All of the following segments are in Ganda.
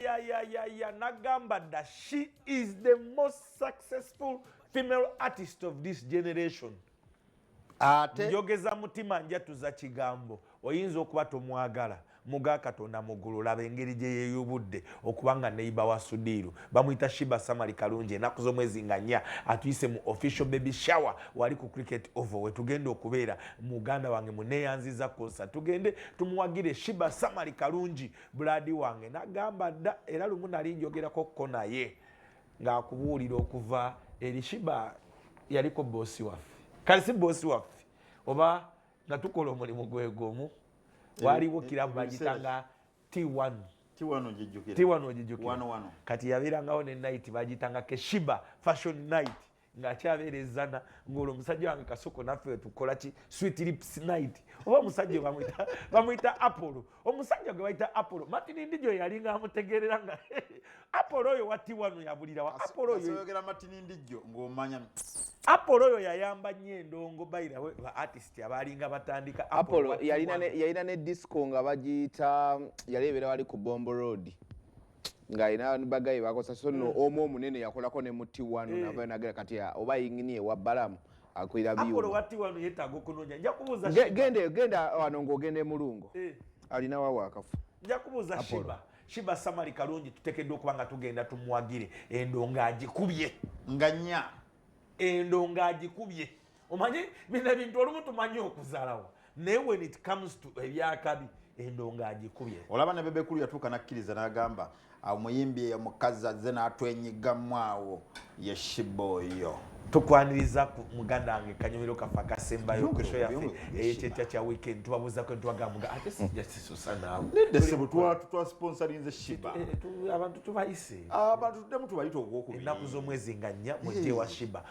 ya ya ya ya nagamba da she is the most successful female artist of this generation ate njogeza mutima njatuza kigambo oyinza okuba tomwagala muga katonda mugulu laba engeri gye yeyubudde okuba nga neiba wa sudiiru bamuyita shiba samali kalungi enaku z'omwezi nga nya atuyise mu official baby shower wali ku cricket ovo wetugenda okubeera muganda wange muneyanziza konsa tugende tumuwagire shiba samali kalungi bulaadi wange nagamba dda era lumu nali njogerako ko naye ng'akubuulira okuva eri shiba yaliko boosi waffe kale si boosi waffe oba nga tukola omulimu gwegumu waliwo kirabu bagitanga t1 tiwano ogijukira kati yabeerangawo ne night bagitanga keshiba fashion night nga akyabeera ezana ngaolwo omusajja wange kasoko naffe wetukola ki sweet lips night oba omusajja bamwita bamwita apollo omusajja gwe bayita apollo martin ndijo yali nga amutegerera nga apollo oyo watti wano yabulirawa apollo oyo oyogera martin ndijo ng'omanya apollo oyo yayamba nnyo endongo bayira we ba artist abaalinga batandika apollo yalina ne disco nga bagiyita yali ebeera wali ku bombo road nga ina bagaye bakosa so no mm. omu omunene yakolako ne muti wanu eh. navayo nagera kati ah, oba yingini ewa balamu akwira byogende genda ah, wano ngaogenda emulungo eh. alina wawo akafu njakubuuza shiba shiba samali kalungi tutekeddwa okuba nga tugenda tumwagire endonga agikubye nga nya endonga agikubye omanyi bino ebintu olumu tumanyi okuzalawo naye when it comes to ebyakabi endonga agikubye olaba ne bebekulu yatuuka nakkiriza n'agamba omuyimbi eyo mukazi azze n'atwenyigamu awo ye shiba oyo tukwaniriza muganda wange kanyumiro kafa kasembayo kusho yaffe eyekyekya kya weekend tubabuzako ntwagamuga ate sijasisosa naawe nedde sebo twasponsorinze shiba eh, eh, abantu tubayise abantu tuddemu tubayita ogwokubiri ennaku z'omwezi nga nnya mujje wa shiba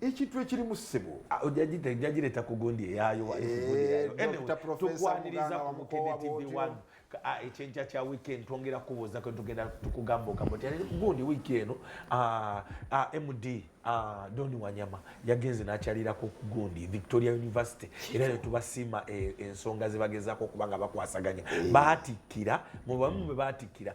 ekintu ekirimu ssebo ah, jajireta ku gundi eyayo eh, tukwaniriza ku mukene tv one ah, ekyenkya kya wiiki eno twongera kubuuza kwe tugenda tukugamba ogamba ti gundi wiiki eno ah, md doni wanyama yagenze nakyalirako ku gundi victoria university era netubasiima eh, ensonga zebagezako okuba nga bakwasaganya eh. batikkira mubamu bwe batikkira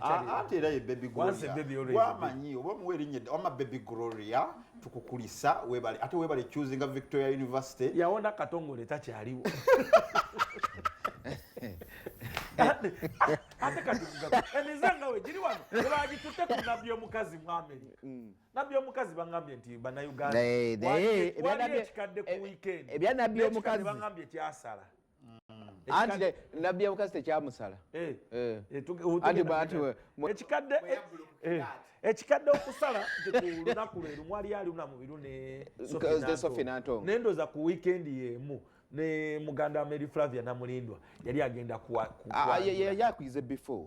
ate era ye baby gloriawamanyi oba muwa erinnya wama baby gloria tukukulisa webale ate webale chusinga victoria university yawona katongole takyaliwo ate katizangawe giri wano ebagitutte ku nabbi omukazi mu amerika mm. nabbi omukazi bagambye nti banauganda waliyo ekikadde ku eh, wikendi ebyanabbi omukazi bagambye kyasala anti nabbi yabukazi tekyamusala eh. eh. eh, ekikadde okusala lunaku lwe lumu ali aluna mubiru nendoza ku wikendi yemu ne muganda wa mary flavia namulindwa yali agenda kuyakuyize before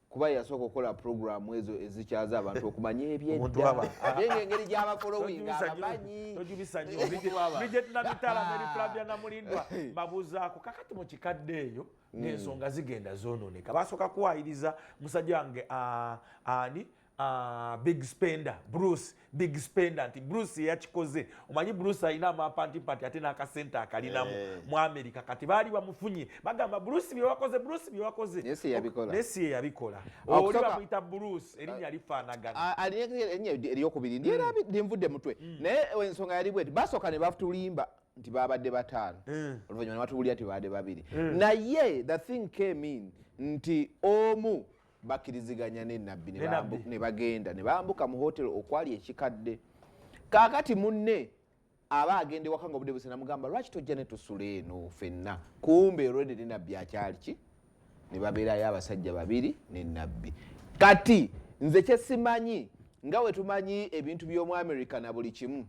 kuba yasooka okukola programu ezo ezikyaza abantu okumanya ebyeddaabyengeri gyabafoloingabamanyiijetnamitalameriflabianamulindwa babuzaako kakati mu kikadde eyo hmm. ng'ensonga zigenda zoononeka basooka kuwayiriza musajja wange ah, ani ah, big spender bruce big spender nti bruce yeyakikoze omanyi bruce alina amapantimpati ate n'akasente akalinamu eh. mu america kati baali bamufunye bagamba bruce byewakoze bruce byewakoze naye si yeyabikola ah, oli bamuyita bruce erinnya ah, lifaanagana ah, alinya eryokubiri ndyera hmm. linvudde mutwe hmm. naye eh, ensonga yali bweti basooka ne batulimba nti babadde bataano hmm. oluvanyuma ne batubulira nti babadde babiri naye the thing came in nti omu bakkiriziganya ne nabbi ne Ne bambu- Nabbi. ne bagenda ne bambuka mu hotero okwali ekikadde kaakati munne aba agenda ewaka nga obudde busana mugamba lwaki tojja ne tusula eno fenna kumbe olwedde ne nabbi akyali ki ne babeerayo abasajja babiri ne nabbi kati nze kyesimanyi nga wetumanyi ebintu by'omu america na buli kimu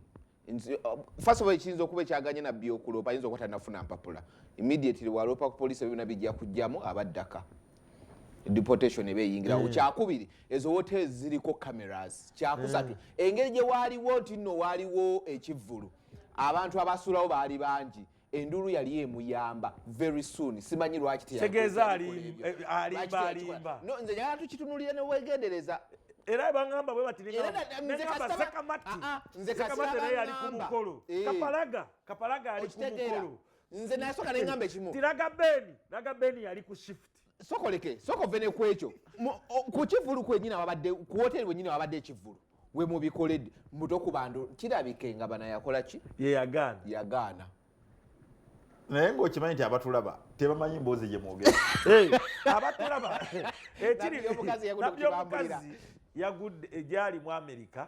Uh, first of all ekiyinza okuba ekyaganye nabbi okuloopa ayinza okuba tanafuna mpapula immediately waloopa ku poliisi ebyona bijja kujjamu abaddaka deportation eba eyingirawo mm. kyakubiri ezo hotels ziriko cameras kyakusatu mm. engeri gye waaliwo nti nno waaliwo ekivvulu abantu abasuulawo baali bangi enduulu yali emuyamba very soon simanyi lwaki tegeeza alimba alimba no nze njagala tukitunulire newegendereza era bangamba bwe bati nze kasamati naye ali ku mukolo eh. kapalaga kapalaga ali ku mukolo nze nasoka nengamba ekimu tiraga beni raga beni yali ku shift sokoleke sokove ne kwekyo ku kivulu kwenyini ababadde ku woteri wenyini ababadde ekivulu we mubikoledde muto ku bantu kirabike nga bana yakola ki ye yagaana yagaana naye ngaokimanyi nti abatulaba tebamanyi mboozi gye mwogera abatulaba ekiri nabyomukazi yagudde egyali mu amerika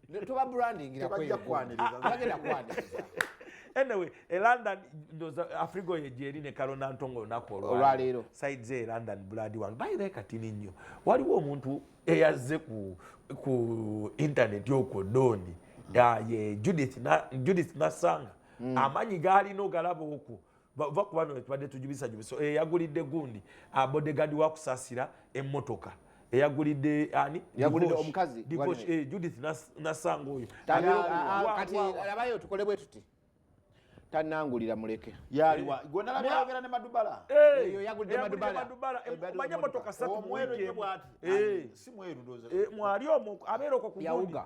toba brandingira kweyo bagenda kwaniriza anyway e london ndoza afrigo ye jeri ne kalo nantongo olunaku olwaleero side ze e london blood wange bayira ekatini nnyo waliwo omuntu eyazze ku, ku internet okwo doni ye judith, na, judith nasanga mm. amanyi gaalina ogalaba okwo va ku bano tubadde tujubisajubisa eh, eyagulidde gundi ah, bodegadi wakusasira emmotoka eyagulidde ani yagulidde omukazi eh, judith nasanga oyo kati labayo tukole bwe tuti tanangulira muleke yaliwa eh. gwona labayo ogera ne madubala eh. eyo yagulidde madubala omanya motoka satu mwero bwati si mweru ndoza mwali omu abeera okwo ku yawuga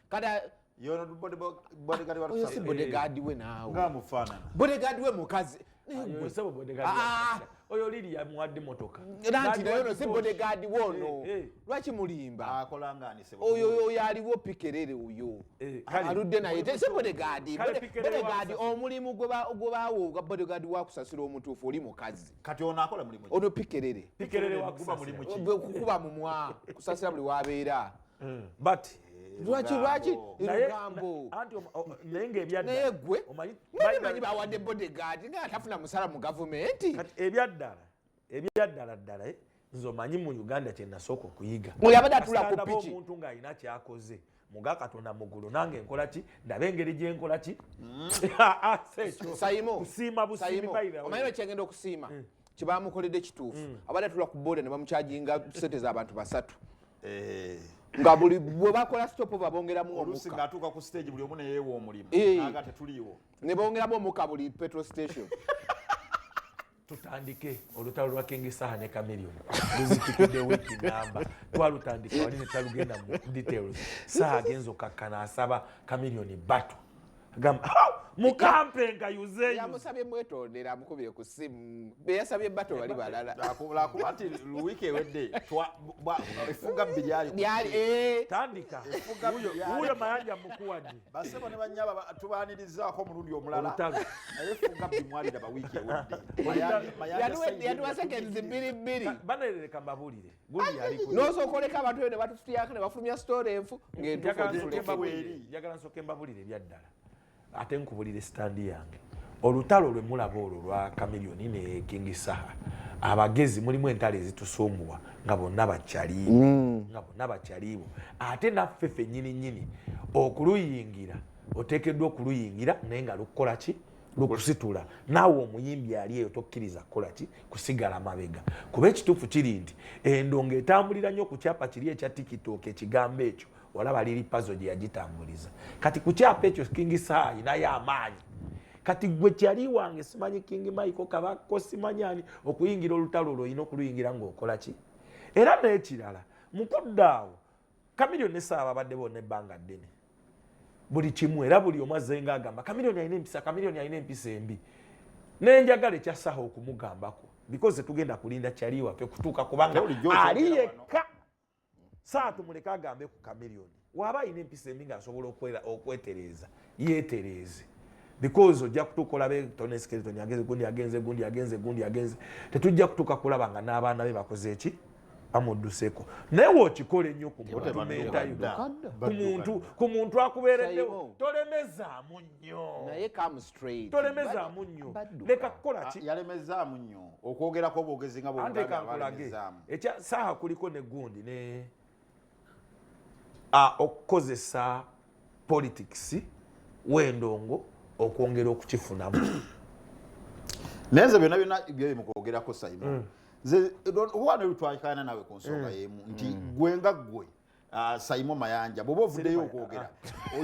kati yono bodegaadi wa oyo si bodegaadi we naawe nga mufaanana bodegaadi we mukazi ah! oyo liri yamuwadde motoka nanti naye ono si bodegaadi we ono eh, eh. lwaki mulimba oyo oyo aliwo pikerere oyo eh, aludde naye si bodegaadi bodegaadi omulimu gwebaawo ogwa bodegaadi wakusasira omutuufu oli mukazi kati ono akola mulimu ono pikerere kukuba mumwa kusasira buli wabeera mm. but lwaki lwaki lugambo naye ngaebyaddala manyi bawadde bodegaadi nga atafuna musala mu gavumenti ebyaddala ebyaddala ddala eh? nze omanyi mu uganda kyenasooka okuyiga yabadde atula ku piki omuntu ng'alina kyakoze muga katonda mugulu nange nkola ki ndaba engeri gyenkola ki mm. ah, ah, kusiima busiimiomanyi lwekyengenda okusiima mm. kyebamukoledde kituufu mm. abadde atula ku boda ne bamukyajinga sente zabantu basatu eh. nga buli bwebakola stopova bongeramu omukaatuuka ku stage buli omu neyeewa omulimu eh. aga tetuliiwo ne bongeramu omuka buli petrol station tutandike olutalo lwa kingisaha ne camilion luzitikidde wiiki namba twalutandika wali netalugenda mu details saha agenza okakkana asaba camilion batu gamba mukampe nga yuze yamusabye mwetondera amukubire ku simu beyasabye bato bali balala lwakuba nti luwiiki ewedde efuga bbi lyali eh. tandika wuyo mayanja mukuwadi basebo ne banyaba tubanirizaako omulundi omulala naye efuga bbi mwaliraba wiiki ewedde yaduwa sekendi bbiri bbiri banerereka mbabulire nosooka oleka abantu eyo ne batutuyaka ne bafulumya sitoola enfu ng'entuufuegambulirejagala nsooka embabulire ebyaddala ate nkubulire sitandi yange olutalo lwe mulaba olwo lwa kamiliyoni ne kingi saha abagezi mulimu entalo ezitusumbuwa nga bonna bakyaliibo mm. nga bonna bakyaliibo ate naffe fennyini nnyini okuluyingira oteekeddwa okuluyingira naye nga lukukola ki lwokusitula naawe omuyimbi ali eyo tokkiriza kukola ki kusigala mabega kuba ekituufu kiri nti endongo etambulira nnyo ku kyapa kiri ekya tikitoka ekigambo ekyo olaba liri pazo gye yagitambuliza kati ku kyapa ekyo kingi saayi naye amaanyi kati gwe kyali wange simanyi kingi maiko kabako simanyani okuyingira olutalo olwo olina okuluyingira ngaokola ki era n'ekirala mu kudda awo Chameleone ne Sarah babadde bonna ebbanga ddene buli kimu era buli omu azzenga agamba Chameleone alina empisa Chameleone alina empisa embi naye njagala ekya Saha okumugambako because tugenda kulinda kyali waffe kutuuka kubanga ali yekka Saha tumuleke agambe ku Chameleone waaba alina empisa embi ng'asobola okwetereeza yetereeze because ojja kutuuka olabe tonesikere toni agenze gundi agenze gundi agenze gundi agenze tetujja kutuuka kulaba nga n'abaana be bakoze eki amudduseko naye wokikole nnyo ku mutumeetayo ku muntu ku muntu akubeereddewo tolemezaamu nnyo tolemezaamu nnyo leka kukola ki ah, yalemezaamu nnyo okwogerako obwogezi nga bwogezaamu ekya saaha kuliko ne gundi ne okukozesa politics wendongo okwongera okukifunamu naye nze byona byona byebyo mukwogerako saimo mm. nze owana lutwakana nawe ku nsonga mm. yemu nti mm. gwe nga gwe ah, saimo mayanja bwoba ovuddeyo okwogera ah.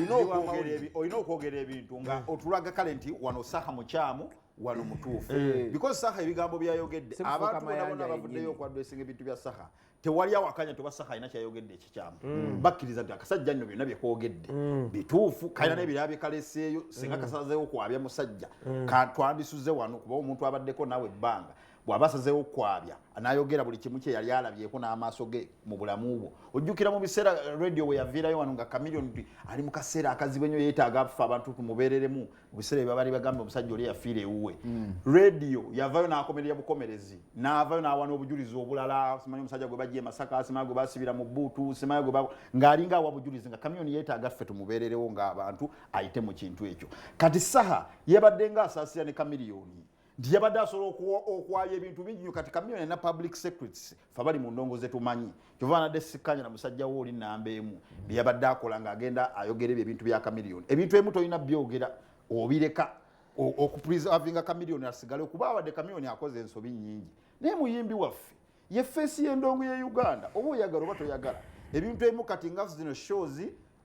olina okwogera ebintu nga otulaga kale nti wano saha mukyamu wano mutuufu eh. because saha ebigambo byayogedde abantu bona bona bavuddeyo okwadwesinga ebintu bya saha tewali awakanya tubasa kalina kyayogedde ekikyamu mm. bakkiriza nti akasajja nno byonna byekoogedde mm. bituufu kalina mm. nebiraba byekaleseeyo singa kasazeewo kwabya musajja twandisuze wano kuba omuntu abaddeko naawe ebbanga bwaba asazeewo kwabya nayogera buli kimu kyeyali alabyeko n'amaaso ge mu bulamu bwo ojjukira mu biseera radio weyaviirayo wano nga kamilion nti ali mu kaseera akazibu enyo yeetaaga afa abantu tumubeereremu mubiseera ebyo baali bagamba omusajja oli yafiira ewuwe hmm. radio yavayo nakomerera bukomerezi navayo nawa nobujulizi obulala simanyi omusajja gwe bajja emasaka simanyi gwe basibira mu buutu simanyi gwe ngaalinga awa bujulizi nga kamyoni yetaaga ffe tumubeererewo ngaabantu ayite mu kintu ekyo kati saha yebadde nga asaasira ne kamiliyoni nti yabadde asobola okwaya ebintu bingi nyo kati kamiyoni na public secrets fe bali mu ndongo zetumanyi kyova anadde sikkanya na musajja wo oli namba emu byeyabadde akola nga agenda ayogera ebyo ebintu bya kamiliyoni ebintu emu tolina byogera obireka okupreservinga kamiliyoni asigale okuba abadde kamiliyoni akoze ensobi nyingi naye muyimbi waffe ye feesi y'endongo ye uganda oba oyagala oba toyagala ebintu emu kati nga zino shows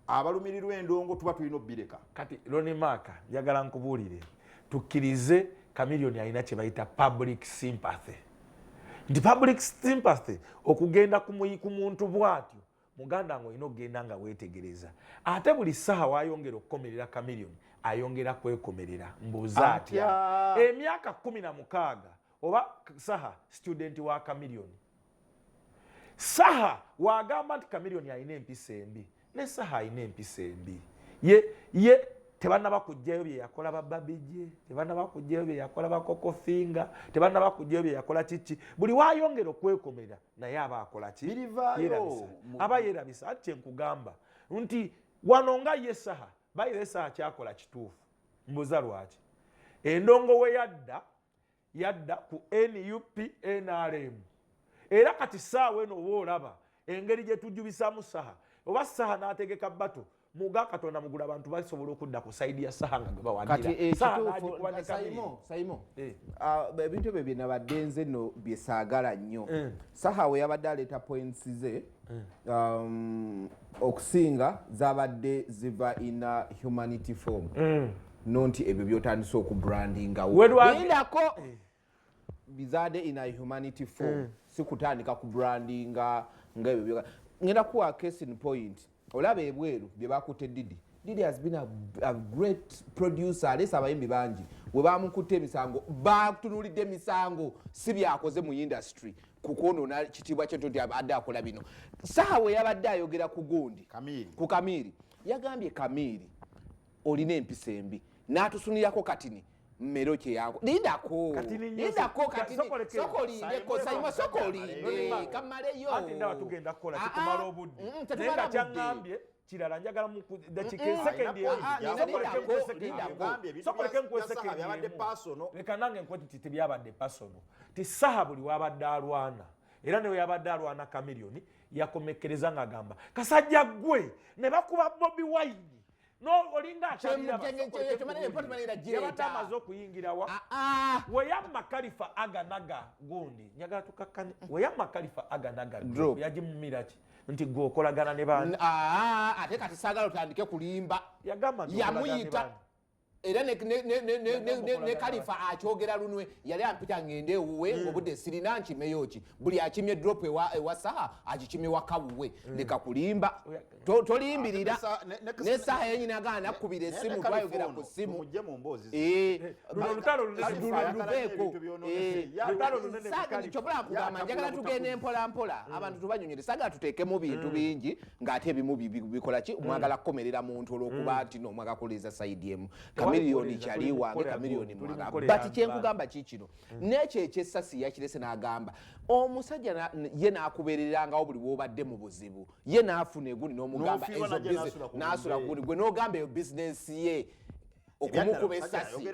abalumirirwa endongo tuba tulina obbireka kati lonimaaka njagala nkubuulire tukkirize kamiliyoni alina kye bayita public sympathy nti public sympathy okugenda ku muntu bwatyo muganda nga olina okugenda nga weetegereza ate buli ssaaha wayongera okukomerera kamiliyoni ayongera kwekomerera mbuuza atya emyaka kumi na mukaaga oba saha studenti wa kamiliyoni Saha wagamba nti Chameleone alina empisa embi ne Saha alina empisa embi ye ye tebanaba kujjayo bye yakola ba Babije tebanaba kujjayo bye yakola ba Coco Finger tebanaba kujjayo bye yakola kiki buli wayongera okwekomera naye aba akola ki yerabisa aba yerabisa ati kye nkugamba nti wano nga ye Saha bayire Saha kyakola kituufu mbuza lwaki endongo we yadda yadda ku nup nrm era kati saawa eno oba olaba engeri gyetujubisamu saha oba saha nategeka bato muga katonda mugula abantu basobola okudda ku saidi ya saha nga gwebawanirasaimo eh, ah, ebintu ebyo byenabadde nze no byesagala nnyo eh. saha we yabadde aleeta points ze eh. um, okusinga zabadde ziva ina humanity form mm. no nti ebyo byotandise oku brandingawo lindako eh. bizade in a humanity form eh. sikutandika ku brandinga nga ebyo byoka ngenda kuwa case in point olaba ebweru bye bakutte didi didi has been a, a great producer alesa abayimbi bangi we bamukutte emisango batunulidde emisango si byakoze mu industry kukwonona kitiibwa kyetu nti adde akola bino saawa yabadde ayogera ku gundi ku kamiiri yagambye kamiiri olina empisa embi natusunirako katini mmero kyeyako lindako lindako katisokolindeko sayima sokolinde kamaleyo kirala njagala mudakika esekendisokoleke nkuwa esekendileka nange nkuwa ti tebyabadde pasono ti saha buli wabadde alwana era newe yabadde alwana kamiliyoni yakomekkereza nga agamba kasajja gwe ne bakuba bobi wine nolingakyabaddeamaze okuyingirawa ah, ah. weyamma kalifa aganaga gundi njagala tukakkane weyamma kalifa aganaga yagimumiraki nti gwe okolagana ne bandi ah, ate kati saagala otandike kulimba yamuyita era ne kalifa akyogera lunwe yali ampita ngende ewuwe hmm. ngobudde sirina nkimeyo ki buli akimye drop ewa saha agikimye wakawuwe hmm. leka kulimba tolimbirira ah, ne saha yenyini agaa nakubira esimu twayogera ku simu eh, eh, eh, kyobula kugamba njagala tugenda empolampola hmm. abantu tubanyonyere sagala tuteekemu bintu bingi ng'ate ebimu bikola ki hmm. mwagala kukomerera muntu olwokuba hmm. nti no mwaga kuliza side emu kamiliyoni kyali wange kamiliyoni mwaga but kyenkugamba ki kino hmm. nekyo ekyessasi yakirese n'agamba omusajja ye n'akubererangawo buli wobadde mu buzibu ye n'afuna eguni n'omugamba n'asula guni gwe n'ogamba eyo bizinensi ye okumukuba esasi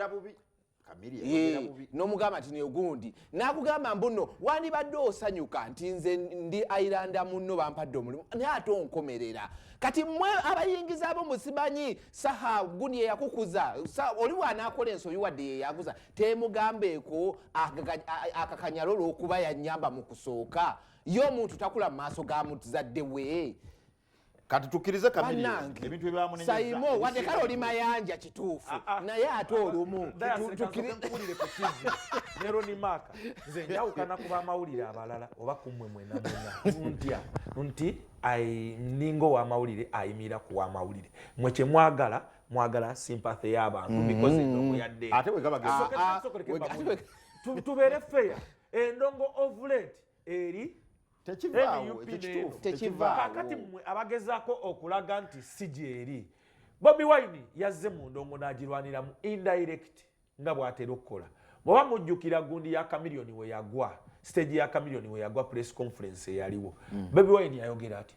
nomugamba nti negundi nakugamba mbuno wandibadde osanyuka nti nze ndi airanda muno bampadde omulimu naye ate onkomerera kati mwe abayingiza abo musimanyi saha guni eyakukuza oli wanakola ensobi wadde yeyakuza temugambeeko akakanyalo olwokuba yanyamba mu kusooka ye omuntu takula mu maaso ga muzadde we kati tukkirize ebintu ebyamunesaimo wadde kale oli mayanja kituufu ah, ah. naye ate olumu tuwulire ku tivi ne ronimaka nze njawukana ku bamawulire abalala oba kumwe mwena mwena ntya nti ninga owamawulire ayimira ku wamawulire mwe kyemwagala mwagala sympathy y'abantu mm-hmm. because endongo yadde ate ah, tubeere feya endongo of late eri tekivaawoekituufukakati mwe abagezako okulaga nti si gyeri bobi wine yazze mu ndongo n'agirwaniramu indirect nga bw'atera okukola bwaba mujjukira gundi ya kamiliyoni we yagwa siteegi ya kamiliyoni we yagwa press conference eyaliwo mm. bobi wine yayogera atya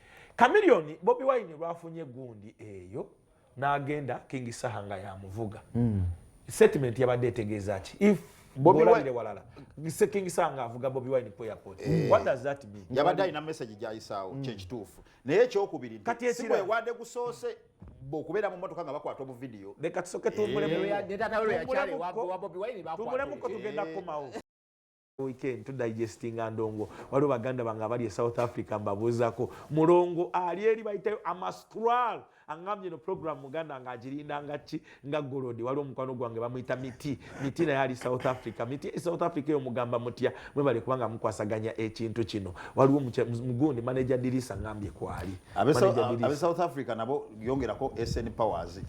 Chameleon Bobi Wine lwafunye gundi eyo n'agenda King Saha nga yamuvuga mm. statement yabadde etegeeza ki if Bobi Wine walala Mr King Saha nga avuga Bobi Wine ku airport eh. what does that mean yabadde alina message gyayisaawo mm. kyekituufu naye ekyokubiri sikwewade gusoose okubeera mu motoka nga bakwata obu vidiyo leka tusoke tumbulemu eh. tugenda kukomawo weekend to digestinga ndongo waliwo baganda bange abali e south africa mbabuuzako mulongo ali eri bayitayo amastral angambye no program muganda nga agirinda nga ki nga golodi waliwo omukwano gwange bamuyita miti miti naye ali south africa miti e south africa eyo mugamba mutya mwebale kubanga mukwasaganya ekintu kino waliwo mugundi manaja dirisa ngambye kwali abe south africa nabo yongerako sn powers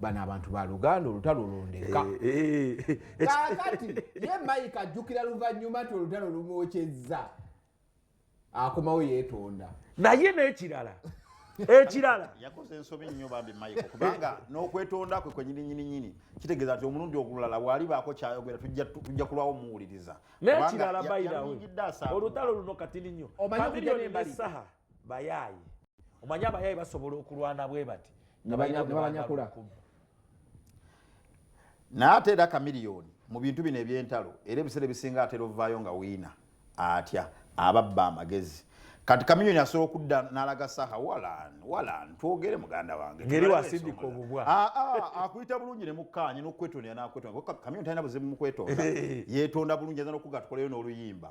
bano abantu ba luganda olutalo lundeka eh, eh, eh, kakati ye mike ajjukira luvannyuma ti olutalo lumwokyezza akomawo yeetonda naye n'ekirala ekirala yakoze ensobi nnyo bambi mike kubanga n'okwetonda kwe kwenyininyininyini kitegeeza nti omulundi ogulala bwali baako kyayogera tujja kulwawo muwuliriza n'ekirala bayirawe olutalo luno katini nnyo omanyi okujanembasaha bayaaye omanyi abayaaye basobola okulwana bwe bati nebanyakula naye ate era kamiliyoni mu bintu bino ebyentalo era ebiseera ebisinga atera ovaayo nga wiina atya ababba amagezi kati kamiliyoni asobola okudda n'alaga saha walan walan twogere muganda wange ngeri wasindika obubwa ah, ah, akuyita bulungi ne mukkaanya n'okwetonera n'akwetonera kamiliyoni talina buzibu mu kwetonda yeetonda bulungi aza n'okuga tukoleyo n'oluyimba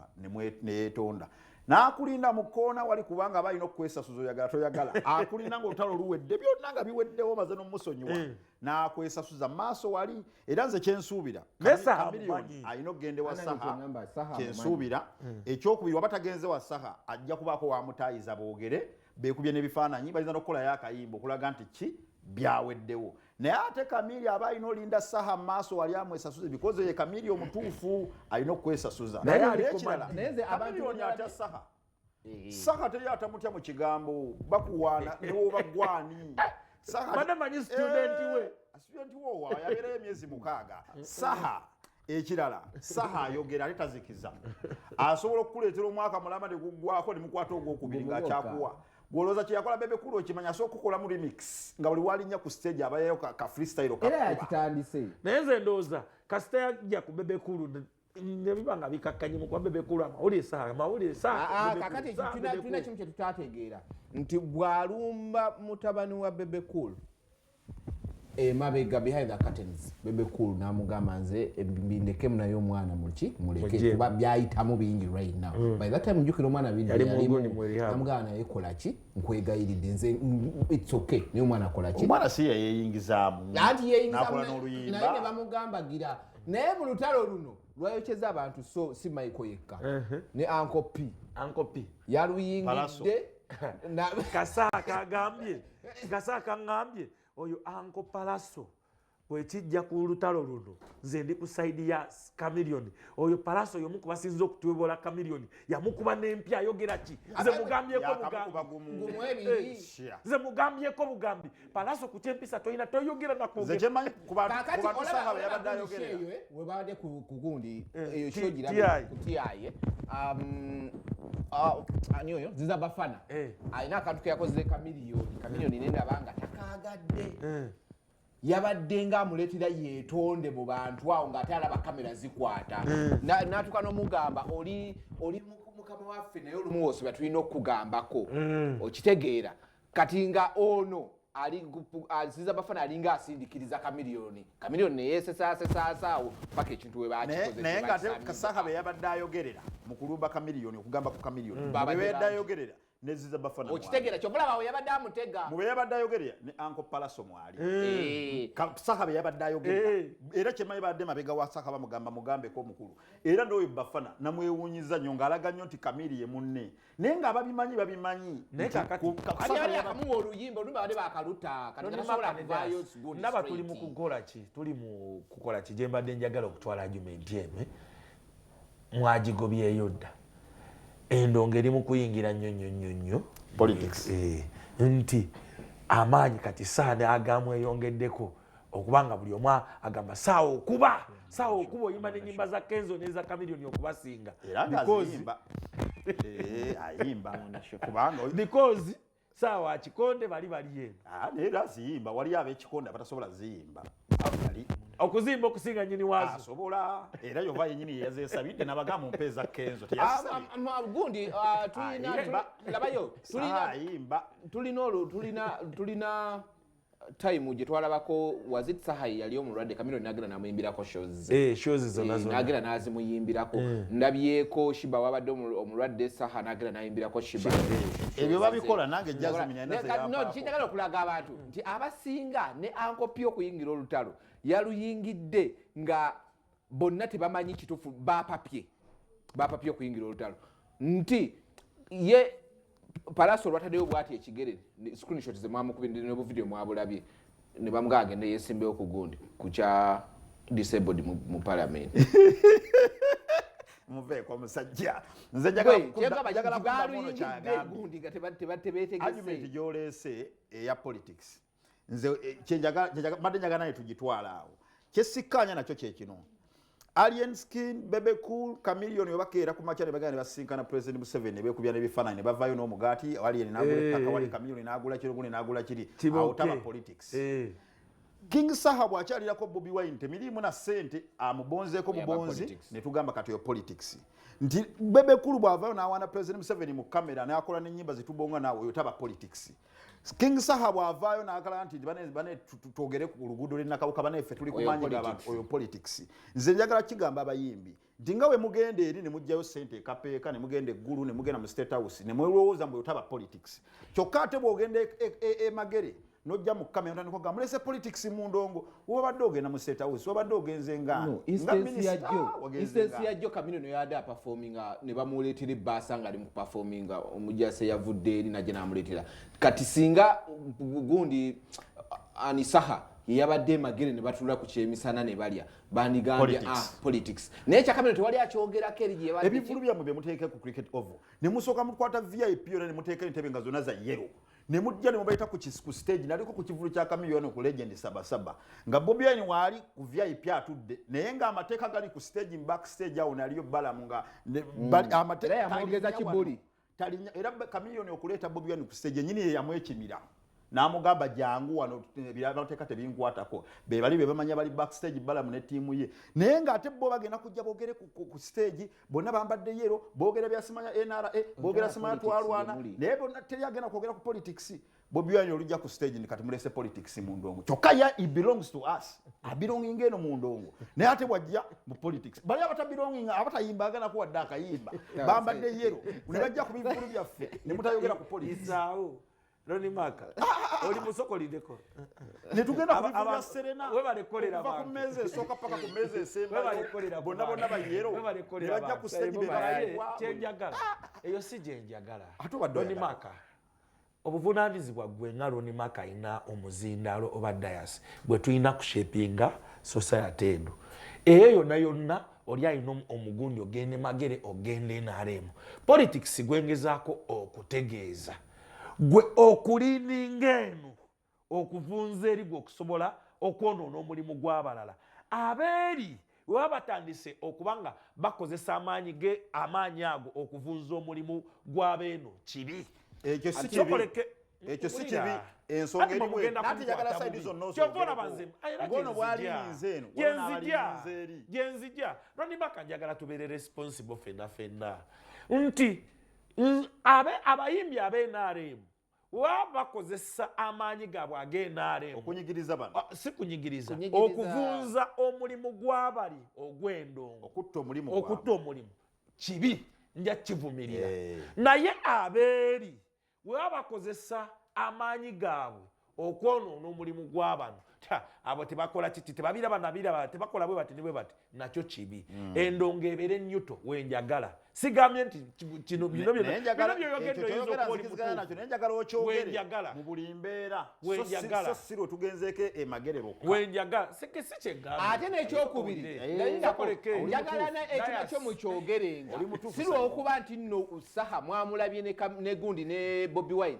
ne yeetonda n'akulinda mu kkoona wali kubanga aba alina okukwesasuza oyagala toyagala akulinda ng'olutalo luwedde byonna nga biweddewo maze n'omusonyiwa eh. n'akwesasuza maaso wali era nze kyensuubira kamiliyoni alina okugenda ewa saha kyensuubira eh. ekyokubiri waba tagenze wa saha ajja kubaako wamutaayiza boogere beekubye n'ebifaananyi bayinza n'okukolayo akayimba okulaga nti ki byaweddewo naye ate kamiri aba alina olinda saha maaso wali amwesasuze bikoze ye kamiri omutuufu alina okwesasuza naye alikirala kamirioni atya saha eh. saha teri atamutya mu kigambo bakuwaana newoba gwani saha manyi studenti we eh, studenti wowa yabeerayo emyezi mukaaga saha ekirala saha ayogera ate tazikiza asobola okukuleetera omwaka mulama ne guggwako ne mukwata ogwokubiri ng'akyakuwa gwolowooza kye yakola bebe kulu okimanya asobola okukolamu remix nga buli walinnya ku stage abayayo ka freestyle era yakitandise naye nze ndowooza kasita yajja ku bebe kulu nebiba nga bikakkanye mukuba bebe kulu amawulire saa amawulire saakakati ah, ah, tulina kimu kye tutategeera nti bw'alumba mutabani wa bebe kulu emabega behind the curtains bebe cool namugamba nze bindekemu naye omwana muki muleke kuba byayitamu bingi right now mm. by that time njukira omwana binamugamba naye kolaki nkwegayiridde nze its okay naye omwana kolaki omwana si yeyeyingizamu nati yeyingizamu naye nebamugamba gira naye mu lutalo luno lwayokyeza abantu so si maiko yekka ne anko p anko p yaluyingidde kasa kagambye kasa kangambye oyo anko palaso bwekijja ku lutalo luno nze ndi ku saidi ya kamilioni oyo palaso yomu kubasinza okutwebola kamilioni yamukuba nempi ayogera ki nze mugambyeko bugambi nze mugambyeko bugambi palaso ku kyempisa tolina toyogera nakwogewebadde eh, kugundi eh, eyo shogiratiaye um, uh, ani oyo ziza bafana eh. alina akantu keyakozere kamiliyoni kamiliyoni naye naba nga takagadde yabadde nga amuleetera yeetonde mu bantu awo ng'ate alaba kamera zikwata n'atuuka n'omugamba oli mukama waffe naye olumu wosibwa tulina okukugambako okitegeera kati nga ono aziza bafana alinga asindikiriza kamiliyoni kamiliyoni neyesesaasesaasawo paka ekintu webakikozenaye nga ate kasaka beyabadde ayogerera mu kulumba kamiliyoni okugamba ku kamiliyoni mm. bebadde ayogerera neziza bafana okitegera kyovulaba weyabadde amutega mubeyabadde ayogerera ne anko palaso mwali eh. eh. saka beyabadde ayogerera eh. era kyemanyi badde mabega wa saka bamugamba mugambeko omukulu era noyo bafana namwewunyiza nyo ngaalaga nyo nti kamili ye munne naye nga babimanyi babimanyi naye kakatiakamuwa oluyimba oluyimba bade bakaluta naba tuli mukukola ki tuli mukukola ki gyembadde njagala okutwala agumenti eno eh? mwagigobyeyo dda endongo eri mukuyingira nnyo nnyo nnyo nnyo eh, eh, nti amaanyi kati saade agamweyongeddeko okuba nga buli omu agamba saawa okuba saawa okuba oyimba nenyimba za kenzo neza kamilioni okubasinga eh, because saawa akikonde bali baliyeeno ah, naye era ziyimba waliyo abekikonde abatasobola ziyimba okuzimba okusinga nyini wazo asobola era yova yenyini yeyazesabidde nabaga mu mpeeza kenzo gundi tulina tulina time gye twalabako was it sahayi yali omulwadde kamiro nagenda namuyimbirako shows eh, eh, nagenda nazimuyimbirako eh. ndabyeko shiba wabadde omulwadde saha nagenda nayimbirako shiba ebyo babikola nange jaziminkinjagala okulaga abantu nti abasinga ne ankopya okuyingira olutalo yaluyingidde nga bonna tebamanyi kitufu bapapye bapapye okuyingira olutalo nti ye palaso olwatadeyo bwati ekigere screenshot zemwamukubinobuvidiyo mwabulabye nebamuga agende yesimbewo ku gundi kukya disabled mu palamenti muveeko musajja nzejagalakuddamuno kyagambye argument gyoleese eya politics nze eh, mbadde njagala naye tugitwala awo kyesikkaanya nakyo kyekino alien skin bebe cool camilion webakeera ku makya nebagenda nebasinkana president museveni nebekubya nebifaananyi nebavayo n'omugaati alien nagula eh. ettaka wali camilion nagula kiro gune nagula kiri awotaba politics eh. king saha bwakyalirako bobi wine temiriimu na sente amubonzeeko mubonzi netugamba kati oyo politics nti bebe kulu bwavayo nawaana president museveni mu kamera nakola nenyimba zitubonga naawe oyo taba politics King Saha bwavaayo n'agala nti bane bane twogere ku luguudo lw'ennakawuka bane ffe tuli kumanyira abantu oyo politics nze njagala kigamba abayimbi nti nga we mugenda eri ne muggyayo ssente ekapeeka ne mugenda eggulu ne mugenda mu state house ne mwelowooza mbu otaba politics kyokka ate bw'ogenda emagere e, e, e, n'ojja mu kamera otandika oga mulese politics mu ndongo wabadde ogenda mu state house wabadde ogenze nga no, instance ya jo ah, instance ya jo kamino no yade a performing uh, ne bamuletera basa nga ali mu performing uh, omujase yavudde eri naje namuletera kati singa gundi uh, ani saha yabadde magere ne batula ku kyemisana ne balya bandigambye ah politics naye kyakamino tewali akyogerako eri gyebali ebivulu byammwe bye muteeka ku cricket oval ne musooka mukwata vip yona ne muteeka entebe nga zona za yero ne mujja ne mubayita ku kisiku stage naliko ku kivulu kya kamiliyoni ku legend sabasaba nga bobi wine waali ku vip atudde naye nga amateeka gali ku stage back stage awo naliyo balamu nga mm. amateeka kibuli talinya era kamiliyoni okuleeta bobi wine ku stage enyini ye yamwekimira namugamba jangu wano birabateeka tebinkwatako bebali bebamanyi bali back stage balamu ne tiimu ye naye nga ate bo bagenda kujja bogere ku stage bonna bambadde yero bogera byasimanya nra bogera simanya twalwana naye bonna teri agenda kwogera ku politics bobiwani olujja ku stage kati mulese politics mu ndongo kyokka ya it belongs to us abelonginga eno mu ndongo naye ate bwajja mu politics bali abatabelonginga abatayimba aganako wadde akayimba bambadde yero ne bajja ku bivulu byaffe ne mutayogera ku politics Ronnie Mark oli musokolideko netugenda ku bivibya Serena okuva ku meeza esooka paka ku meeza esembayo bonna bonna bayero ne bajja ku stage be bawa kyenjagala eyo si gyenjagala ate obadde Ronnie Mark obuvunaanyizibwa gwe nga loni maka alina omuzindaalo oba dayasi gwe tulina kushepinga society eno eyo yonna yonna oli alina omugundi ogende magere ogende nrm politics gwengezaako okutegeeza gwe okuliininga eno okuvunza eri gwe okusobola okwonoona omulimu gw'abalala abeeri webaba batandise okuba nga bakozesa amaanyi ge amaanyi ago okuvunza omulimu gw'abeeno kibi ekyo si kibi ekyo si kibi ensonga erimu nati njagala saidi zonna osobola bwali nze eno genzija genzija roni baka njagala tubeere responsible fenna fenna nti abe abayimbi abe nrm waba bakozesa amaanyi gaabwe age nrm okunyigiriza bano ah, si kunyigiriza okuvunza omulimu gwabali ogwendongo okutta omulimu okutta omulimu kibi nja kivumirira eh. naye abeeri weba bakozesa amaanyi gaabwe okwonoona omulimu gwabano abo tebakola kiki tebabiraba nabiraba tebakola bwe bati nibwe bati nakyo kibi hmm. endongo ebeere nyuto wenjagala sigambye nti kino bino byoyogeddeyinzaokubaolimutuufuwenjagala okyogere mu buli mbeera wenjagala si lwe tugenzeeko emagerero wenjagala si kyegamba ate nekyokubiri njagala ekiba kyo mukyogerenga si lwokuba nti nno saha mwamulabye ne gundi ne bobi wine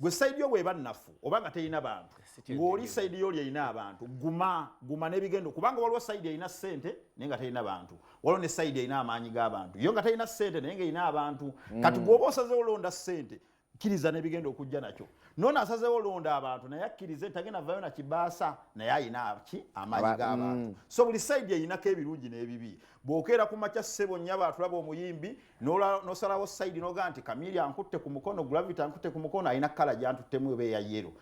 gwe saidi yo bweba nnafu oba nga terina bantu ng'oli saidi yo oli erina abantu guma guma n'ebigendo kubanga waliwo saidi erina ssente naye nga terina bantu waliwo ne saidi erina amaanyi g'abantu yo nga terina ssente naye nga erina abantu mm. kati gwoba osazewo olonda ssente kkiriza n'ebigenda okujja nakyo noona asazewo olonda abantu naye akkirize nti agenda vayo na kibaasa naye alina ki amaanyi g'abantu mm. so buli saidi erinako ebirungi n'ebibi bw'okeera ku makya ssebo nnyabo atulaba omuyimbi nosalawo saidi noga nti kamiri ankutte ku mukono gravity ankutte ku mukono alina kala gyantuttemu eba eya yero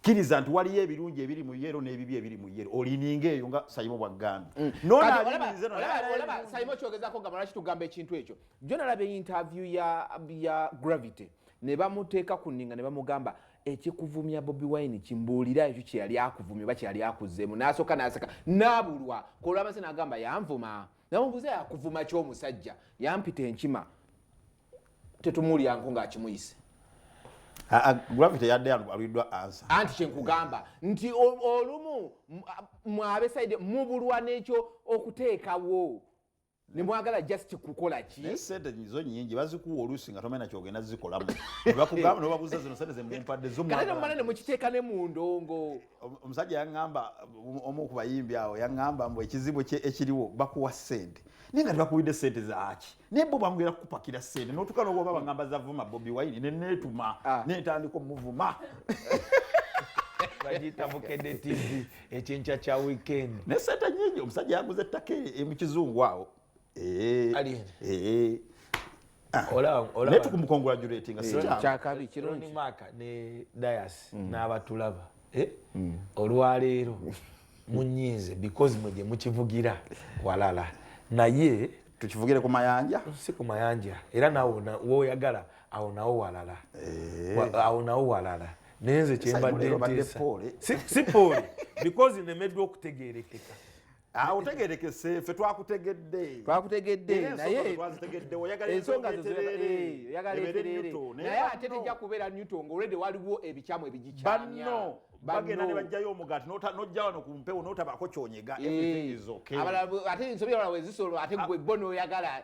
kkiriza nti waliyo ebirungi ebiri mu yero n'ebibi ebiri mu yero olininga eyo nga sayimo bwaggambye mm. nonsaimo kyogezako nga malaki tugamba ekintu ekyo jo nalaba einterview ya gravity ne bamuteeka ku nninga ne bamugamba ekikuvumya bobi wine kimbuulira ekyo kyeyali akuvumya oba kyeyali akuzeemu n'asooka n'aseka n'abulwa kolwamase n'agamba yanvuma nawe mbuze yakuvuma ki omusajja yampita enkima tetumulyanko ngaakimuyise gravity yadde alwidwa ansa anti kyenkugamba nti olumu mwabesaide mubulwa nekyo okuteekawo nemwagala just kukola ki naye sente zo nyingi bazikuwa oluusi nga tomanya kyogenda zikolamu nebakugamba nobabuza zino sente zemumpadde zomumala nemukiteeka ne mu ndongo omusajja yaŋŋamba omu ku bayimbi awo yaŋŋamba mbu ekizibu ekiriwo bakuwa ssente naye nga tebakuwidde ssente zaaki naye bo bamugera kukupakira ssente notuka nowoba baŋŋamba zavuma bobi wayini neneetuma ah. nentandika omuvuma bagiyita bukedde tv ekyenkya kya weekend ne ssente nyingi omusajja yaguza ettaka e, e mu kizungu awo naye tukumukongratulatinga kyakabi kirungi maaka ne dayasi mm. n'abatulaba eh? mm. olwaleero munyiize because mwe gye mukivugira walala naye tukivugire ku mayanja si ku mayanja era nawe woyagala awo nawo walala eh. awo nawo walala naye nze kyembadde nteesa si pooli because nemeddwa okutegeerekeka Ah, otegerekese fe twakutegedde twakutegedde naye ensonga zoyagalaebeerere eh, naye ate tejja kubeera newton nga olwedde waliwo ebikyamu ebigikyamyano bagenda nebajjayo omugaati nojja wano ku mpewo notabako kyonyega eh, ate ensobi abala wezisolo ate gwe ah. bo noyagala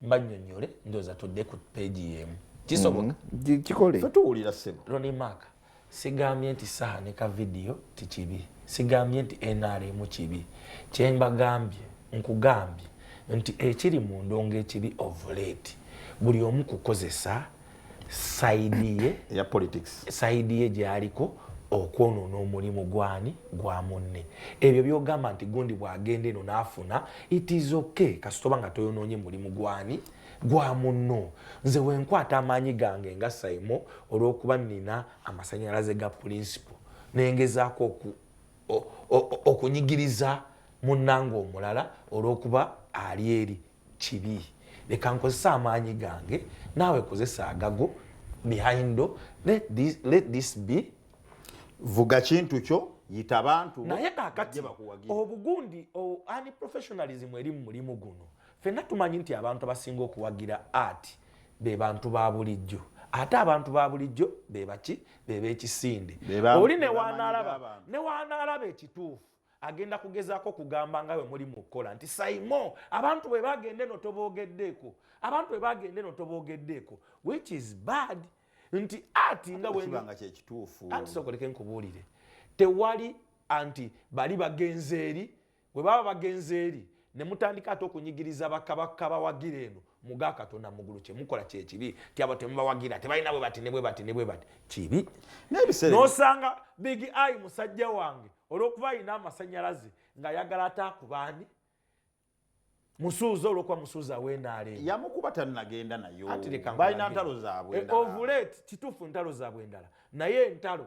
banyonyole ndoza tudde ku page yemu kisoboka mm-hmm. kikole tuwulira sebo Ronnie Mark sigambye nti saha ne ka video tikibi sigambye nti NRM kibi kyemba gambye nkugambye nti ekiri mu ndongo ekibi of late buli omu kukozesa saidi ye ya politics saidi ye gyaliko okwonoona omulimu gwani gwa munne ebyo byogamba nti gundi bwagenda eno nafuna it is okay kasitoba nga toyonoonye mulimu gwani gwa munno nze wenkwata amaanyi gange nga saimo olwokuba nina amasanyalaze ga pulinsipo nengezaako okunyigiriza munnanga omulala olwokuba ali eri kibi leka nkozesa amaanyi gange naawe kozesa agago behindo let this, let this be vuga kintu kyo yita bantu naye kakati obugundi ani professionalism eri mu mulimu guno fenna tumanyi nti abantu abasinga okuwagira art be bantu ba bulijjo ate abantu ba bulijjo bebaki bebekisinde oli newanalaba newanalaba ekituufu agenda kugezaako kugamba nga bwe muli mu kukola nti saimo abantu bwe bagende no tobogeddeeko abantu bwe bagende no tobogeddeeko which is bad nti ati nga bwebanga kyekituufu anti sokoleke nkubuulire tewali anti bali bagenze eri bwe baba bagenze eri ne mutandika ate okunyigiriza bakabaka bawagira eno muga katonda mugulu kyemukola kyekibi ti abo temubawagira tebalina bwe bati nebwe bati nebwe bati kibi nosanga big i musajja wange olwokuba alina amasanyalaze ngaayagala ate akubaani musuuza olwokuba musuuza wenaaleyamukuba tanagenda nayobalina ntalo zabwe eh, ovulet kituufu ntalo zabwe endala naye entalo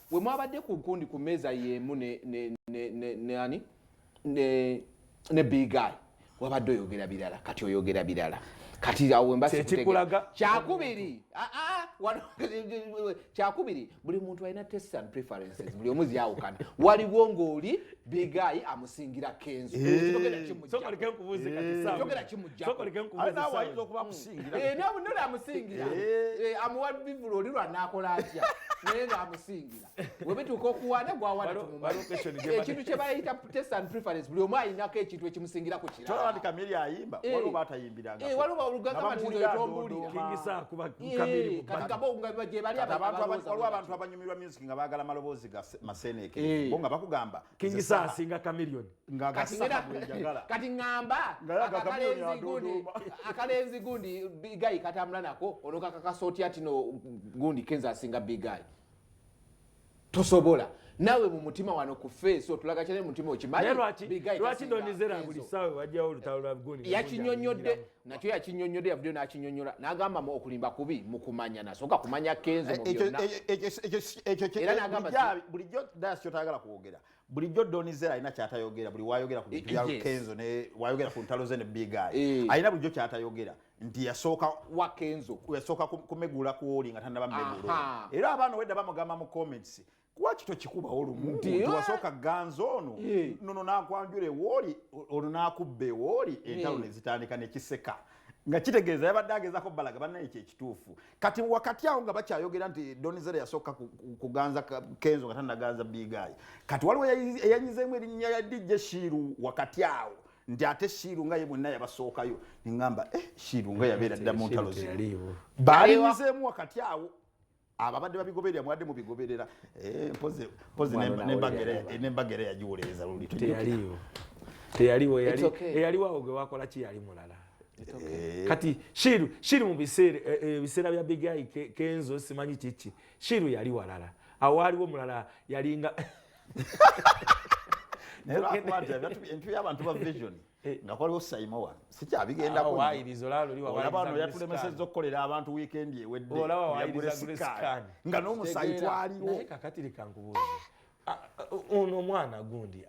We mwabadde ku nkundi ku mmeeza y'emu ne, ne, ne, ne, ne, ani? ne, ne big guy wabadde oyogera birala kati oyogera birala kati awo wembakikulaga kyakubiri ah, ah, kyakubiri buli muntu alina test and preferences buli omu zyawukana waliwo ng'oli bigayi amusingira kenzo kyogera kimujjaoyinza okuba akusingiranole amusingira amuwa bivulu oli lwanakola atya naye nga amusingira webituuka okuwana gwawanatuekintu kyebayita test and preference buli omu ayinako ekintu ekimusingira ku kiralawaliba olugagamatinzoetombulira katikabonga gyebali abantu abanyumirwa nga bagala maloboozi ga maseeneeke hey. Eh. bo nga bakugamba kingisaasi nga kamilion kati ngamba akalenzi gundi bigayi katambula nako ono kakakasa otya tino gundi kenza asinga bigayi tosobola nawe mu mutima wano ku feesi otulaga kyane mu mutima okimanyi lwaki ndonizera buli saawe wajjawo olutalo lwa gundi yakinyonyodde nakyo yakinyonyode yavuddeyo nakinyonyola nagamba mu okulimba kubi mukumanya nasooka kumanya kenzo eh, mubyonnaera nagamba bulijjo das kyotayagala kwogera bulijjo donizera alina kyatayogera buli wayogera ku bintu bya eh, eh, kenzo ne wayogera ku ntalo ze ne big eye alina bulijjo kyatayogera nti yasooka wa kenzo yasooka kumegula kwoli nga tanaba megula era abaana wedda bamugamba mu comments lwaki tokikubawo lumu nti wasooka ganza ono nono nakwanjula ewooli ono nakubba ewooli entalo nezitandika nekiseka nga kitegeeza yabadde agezako balaga banna ekyo ekituufu kati wakati awo nga bakyayogera nti donizere yasooka kuganza kenzo nga tanaganza bigayi kati waliwo eyanyizeemu erinnya ya dj shiiru wakati awo nti ate shiiru nga ye bwenna yabasookayo nengamba eh, shiiru nga yabeera dda mu ntalo zino balinyizeemu wakati awo ababadde babigoberera mwadde mubigoberera eh, mpozi nembagere yagiwolereza luli teyaliwo teyaliwo eyaliwo awo gwe wakola ki yali mulala Eh. kati shiru shiru mu biseera eh, eh, ebiseera bya bigayi kenzo simanyi kiki shiru yali walala awaaliwo mulala yalinga naye lwakuba nti entu y'abantu ba vision Eh, nga kwaliwo saimowa sikyabigendakoabaano yatulemeseza okukolera abantu wiikendi eweddeyaguresikad nga n'omusayi twaliwo kakatirikankubuuza ah, ah, ono omwana gundi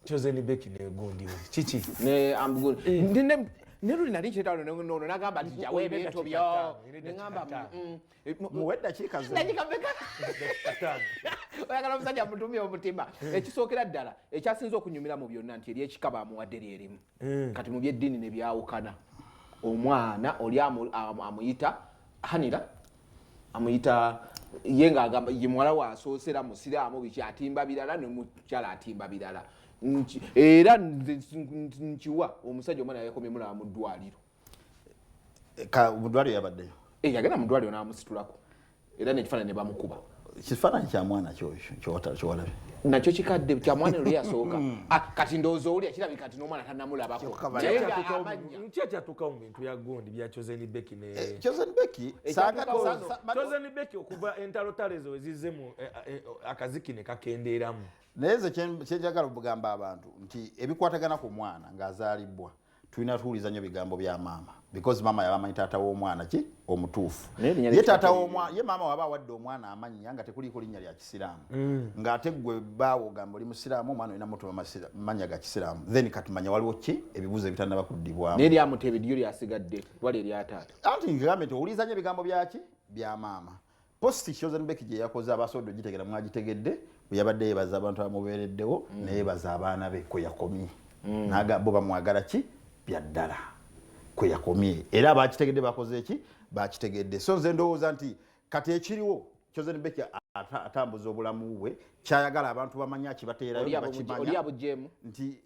chosen beki negundi kiki eh. neluli nali nkyetalo nono nagamba nti jawo ebintu byo nengamba Eh, muwe eddakiika oyagala omusajja amutumye omutima eh. ekisookera ddala ekyasinza okunyumira mu byonna nti eri ekika baamuwadde lyerimu eh. kati mu byeddiini ne byawukana omwana oli amuyita hanira amuyita ye ngaagamba ye muwala waasoosera musiraamu biki atimba birala nemukyala atimba birala era nkiwa omusajja omwana yakomye mulaba mu ddwaliro eh, ka mudwaliro yabaddeyo eh, yagenda mudwaliro namusitulako era nekifaananyi ne bamukuba kifaananyi kya mwana kyowalabye nakyo kikadde kya mwana lwe yasooka hmm. ah, kati ndowooza owulya kirabika kati n'omwana tanamulabakokyatuukawo mu bintu bya gundi bya chosen becky ne eh, chosen becky eh, chosen becky okuva entalo tale ezo ezizze mu eh, akaziki ne kakendeeramu naye ze kyenjagala okugamba abantu nti ebikwatagana ku mwana ng'azaalibbwa tulina tuwuliza nnyo bigambo bya maama because maama yaba amanyi taata w'omwana ki omutuufu ye taata w'omwana ye maama waba awadde omwana amannya nga tekuliiko linnya lya kisiraamu mm. ng'ate gwe baawo ogamba oli musiraamu omwana olina mutuma mannya ga kisiraamu then katumanya waliwo ki ebibuuzo ebitanaba kuddibwamu naye lyamutebe lyo lyasigadde wali eryataata anti ngambe nti owuliza nnyo ebigambo byaki bya maama Post Chosen Becky gye yakoze abasobodde ogitegera mwagitegedde bwe yabadde yebaza abantu abamubeereddewo mm. neyebaza abaana be kwe yakomye mm. naga bo bamwagala ki bya ddala kwe yakomye era abakitegedde bakoze ki bakitegedde so nze ndowooza nti kati ekiriwo Chosen Becky atambuza obulamu bwe kyayagala abantu bamanya kibateerayo bakimanya nti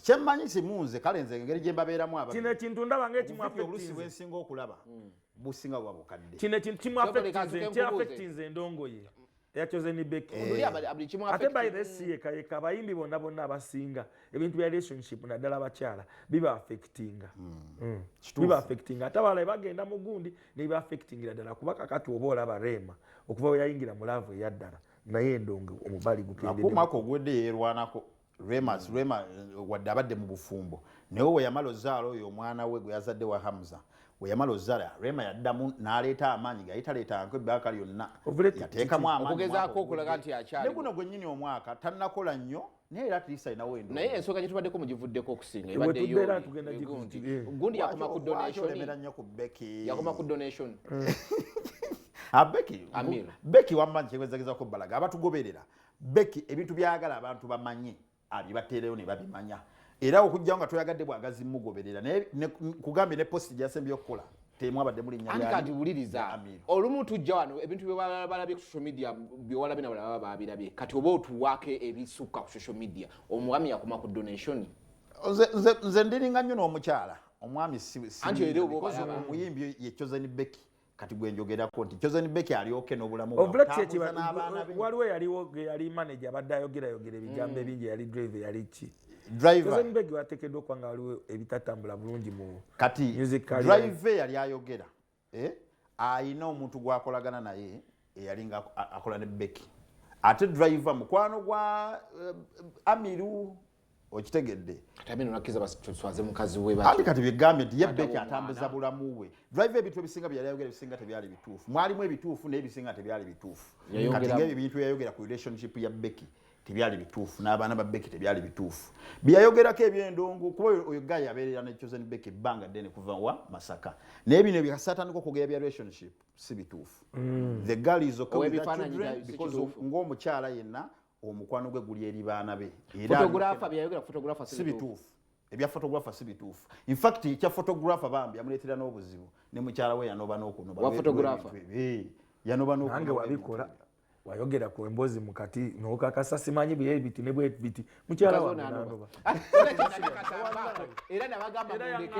kyemmanyi kimu nze kale nze engeri gye mbabeeramu aba kino ekintu ndaba ngaekimuolusi bwensinga okulaba hmm. businga buba bukadde kino ekintu kimuafectinze endongoye eyacozenibekate eh. by the siyekayeka abayimbi bonna bonna abasinga ebintu bya relationship naddala abakyala biba affectinga hmm. Hmm. biba affectinga ate abalae bagenda mu gundi nebiba affectingira ddala kuba kakati oba olaba reema okuva weyayingira mu laavu eyaddala naye endongo omubali gukendekumaka ogwedde yerwanako Remas mm. Rema eh, wadde abadde mu bufumbo naye we yamala ozaala oyo omwana we gwe yazadde wa Hamza we yamala ozaala Rema yaddamu n'aleeta amaanyi gayali taleeta nko ebbaaka lyonna yateekamu amaanyiokugezako okulaga nti akyali ne guno gwennyini omwaka tannakola nnyo naye era atlisa alinawo endu naye ensonga gyetubaddeko mugivuddeko okusinga ebaddeyogundi eh. yakoma ku donationemera nnyo ku beki yakoma ku donation eh. abeki ah, beki wammanyi kyekwezagezako balaga abatugoberera Becky ebintu byayagala abantu bamanye abibateereyo ne babimanya era okujjawo nga toyagadde bwagazi mugoberera naye kugambye ne posti gyasembye okukola temwabadde muli nyakati wuliriza olumu tujja wano ebintu byebalabye ku social media byewalabye nabalala baba babirabye kati oba otuwaako ebisukka ku social media omwami yakuma ku donation nze ndiringa nnyo n'omukyala omwami omuyimbi ye chosen becky kati gwe njogerako nti Chosen Becky ali okay n'obulamu bwa obulamu n'abaana be waliwo yaliwo yali manager abadde ayogerayogera ebigambo mm. ebingi yali drive yali ki driver Chosen Becky wateekeddwa okuba nga waliwo ebitatambula bulungi mu kati music career drive yali ayogera eh ayina omuntu gwakolagana naye eyali nga akola ne Becky ate driver mukwano gwa uh, Amiru okitegedde ati kati byegambe nti yebbe kyatambuza bulamu bwe drive ebintu ebisinga byeyali ayogera ebisinga tebyali bituufu mwalimu ebituufu naye ebisinga tebyali bituufu kati ngaebyo ebintu yayogera ku relationship ya beki tebyali bituufu n'abaana ba beki tebyali bituufu byeyayogerako ebyendongo kuba oyo gayi abeerera ne chosen beki ebbanga ddene kuva wa masaka naye bino byasatandika okwogera bya relationship si bituufu mm. the girl is okay with the children because ng'omukyala yenna omukwano gwe guli eri baana be si bituufu ebya fotografa si bituufu infact ekya fotografa bambi yamuleetera n'obuzibu ne mukyala we yanoba n'okunobanobanange wabikola wayogera ku embozi mukati nokakasa simanyi bye biti ne bwe biti mukyala wange nanoba era nabagamba mundeke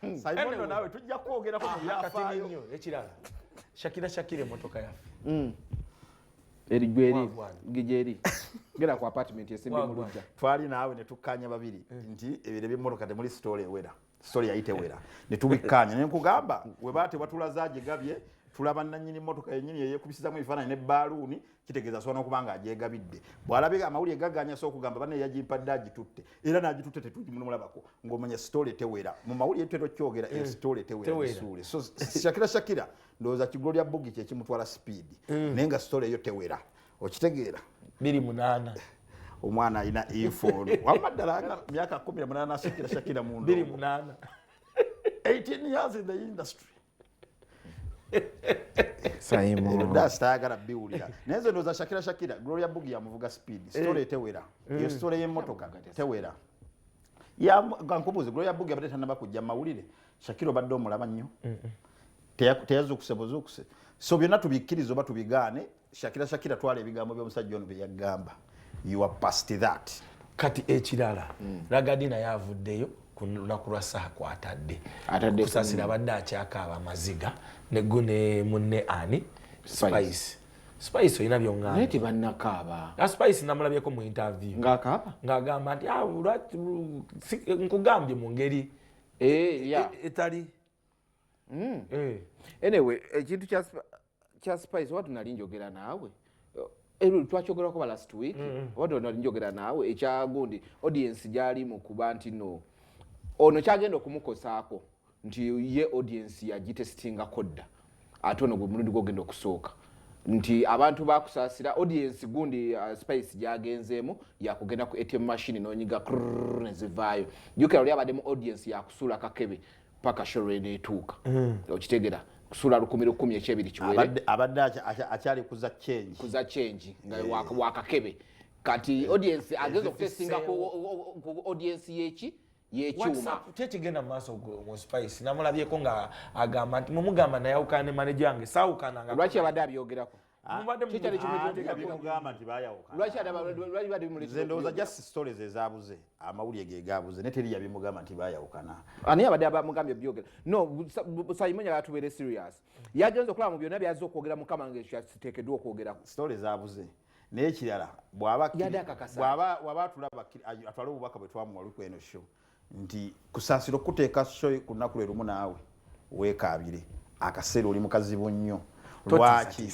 Hmm. Saimondo nawe tujja kwogera ku ah, byafaayo. Nnyo ekirala. Shakira Shakira emotoka yaffe. Mm. Eri gweri gijeri. Gera ku apartment esimbi mu lujja. Twali naawe ne tukkanya babiri eh. nti ebire by'emmotoka temuli story ewera. Story yayite wera. Ne tubikkanya ne nkugamba we baate batulaza gigabye tulaba nannyini mmotoka yennyini eyekubisizamu ebifaananyi ne baaluuni kitegeeza asobola nokuba nga agyegabidde bw'alabika amawulire gaganya so okugamba banne yagimpadde agitutte era n'agitutte tetugimulabako ng'omanya sitole tewera mu mawulire tutera okyogera eyo eh, sitole tewerasuule so shakira shakira ndowooza kigulo lya bugi kyekimutwala sipiidi eh. naye nga sitole eyo tewera okitegeera biri munaana omwana alina efono wamma ddala myaka kumi na munaana shakira shakira mu 18 years in the industry sayimuludasitayagala biwulira naye nze ndoza shakira shakira gloria bugi yamuvuga speed eh. story tewera eh. eyo story y'emmotoka tewera nkubuuzi gloria bugi abadde tanaba kujja mawulire shakira obadde omulaba nnyo teyazuukuse buzuukuse so byonna tubikkiriza oba tubigaane Shakira Shakira twala ebigambo by'omusajja ono bye yagamba. You are past that. Kati ekirala mm. Ragadi naye avuddeyo ku lunaku lwa saha kwatadde kusasira abadde akyakaaba amaziga negu ne munne ani spice spice olina byonganti banakaaba a spice namulabyeko mu interview ngakaaba ngagamba nti ah, nkugambye mu ngeri eh, e, e, etali mm. eh. anyway ekintu eh, kya spice oba tunali njogera naawe eh, twakyogerako ba last week mm, mm. oba tunali njogera naawe ekyagundi audience gyali mu kuba nti no ono kyagenda okumukosaako nti ye audience yagitesitingako dda ate ono gwemulundi gwogenda okusooka nti abantu bakusasira audience gundi uh, spice gyagenzeemu yakugenda ku atm machine nonyiga nezivaayo jukira oli abadde mu audience yakusuula kakebe paka sho lweneetuuka mm. okitegera kusula lukumi lukumi ekyebiri kiwere abadde akyali kuza change kuza change nga eh. wakakebe kati eh. audience eh, ageza okutesinga ku audience yeki yekyuma kyekigenda mumaaso mu spice namulabyeko nga agamba nti mumugamba nayawukana ne maneja wange sawukananga lwaki abadde abyogerako Ah, ndowoza just stories ezabuze amawulire gegabuze ne teri yabimugamba nti bayawukana ani abadde abamugambye byogera no sayimunya yatubeere serious yagenze okulaba mu byonna byazze okwogera mukama nga ekyo kiteekeddwa okwogerako story zabuze n'ekirala bwaba atula atwale obubaka bwe twamuwa lukweno show nti kusaasira okukuteeka shoyi ku lunaku lwe lumu naawe weekaabire akaseera oli mukazibu nnyo lwaki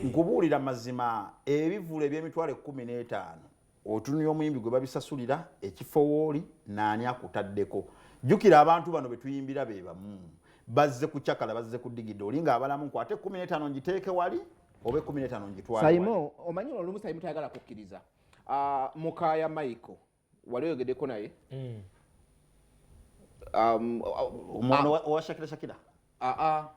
nkubuulira mazima ebivulu eby'emitwalo ekkumi n'etaano otunira omuyimbi gwe babisasulira ekifo wooli naani akutaddeko jjukira abantu bano be tuyimbira be bamu bazze kucakala bazze kudigida oli ng'abalamu nkwate ekkumi n'etaano ngiteeke wali oba ekkumi n'etaano ngitwale saimo omanyi olumu saimo tayagala kukkiriza ah, mukaya michael wali oyogedeko naye mm. um, omwana ah. wa shakira shakira aa ah, ah,